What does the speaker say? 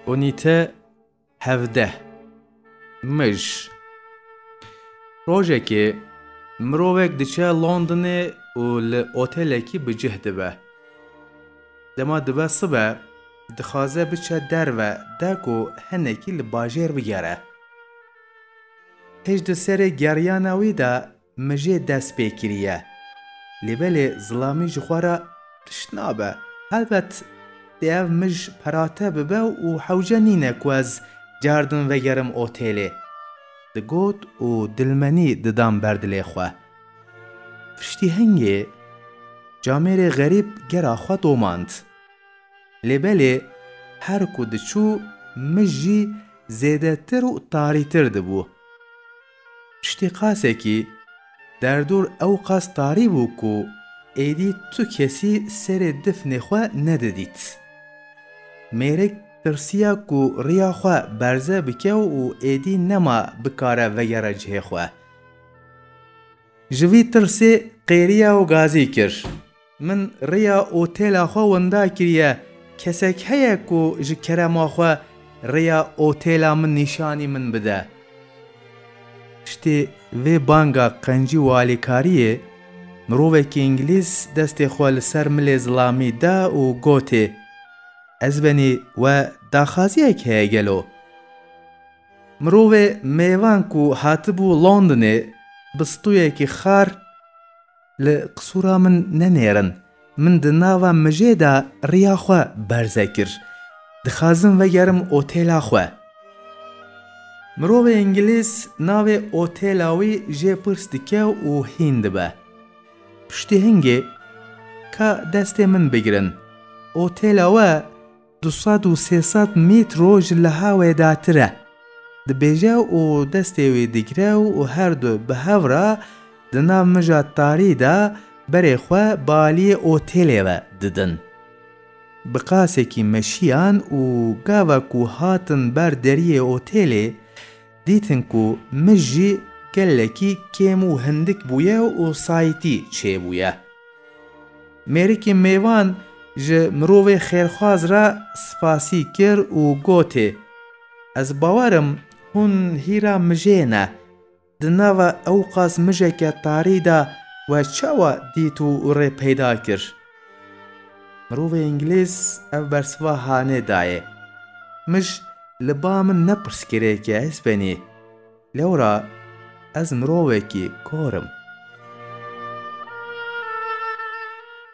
Unîte hevdeh Mij Rojekê mirovek diçe Londonê û li otelekî bi cih dibe. Dema dibe sibe dixwaze biçe derve de ku hinekî li bajêr bigere. Pişt di serê geriyana wî de Mijê dest pê kiriye. Lê belê zilamî ji xwe re tişt nabe. Helbet dê ev mij perate bibe û hewce nîne ku ez car din vegerim otêlê. Digot û dilmenî didan ber dilê xwe. Piştî hingê camêrê xerîb gera xwe domand. Lê belê her ku diçû mij jî zêdetir û tarîtir dibû. Piştî qasekî derdor ewqas tarî bû ku êdî tu kesî serê difnê xwe nedidît. Mêrik tirsiya ku riya xwe berze bike û êdî nema bikare vegere cihê xwe. Ji vî tirsê qêriya û gazî kir. Min rêya otêla xwe winda kiriye. Kesek heye ku ji kerema xwe rêya otêla min nîşanî min bide? Piştî vê banga qencî û alîkariyê, mirovekî îngilîz destê xwe li ser milê zilamî da û gotê, Ez benî we daxaziyek heye gelo? Mirovê mêvan ku hatibû Londonê bi stûyekî xar, Li qisûra min nenêrin. Min di nava mijê de riya xwe berze kir. Dixazim vegerim otêla xwe. Mirovê îngilîz navê otêla wî jê pirs dike û hîn dibe. Piştî hingê, ka destê min bigirin. Otêla we. Du sed û sê sed mîtro ji liha wê datir e. Dibêje û destê wî digire û her du bi hev re di nav mija tarî de berê xwe bi aliyê otêlê ve didin. Bi qasekî meşiyan û gava ku hatin ber deriyê otêlê, Dîtin ku mij jî gelekî kêm û hindik bûye û sayîtî çêbûye. Mêrikê mêvan ji mirovê xêrxwaz re spasî kir û gotê, Ez bawer im hûn hîra mijê ne. Di nava ewqas mijeke tarî de we çawa dît û rê peyda kir? Mirovê îngilîz ev bersiva hanê dayê, Mij li ba min ne pirsgirêkê ez benî, lewra ez mirovekî kor im.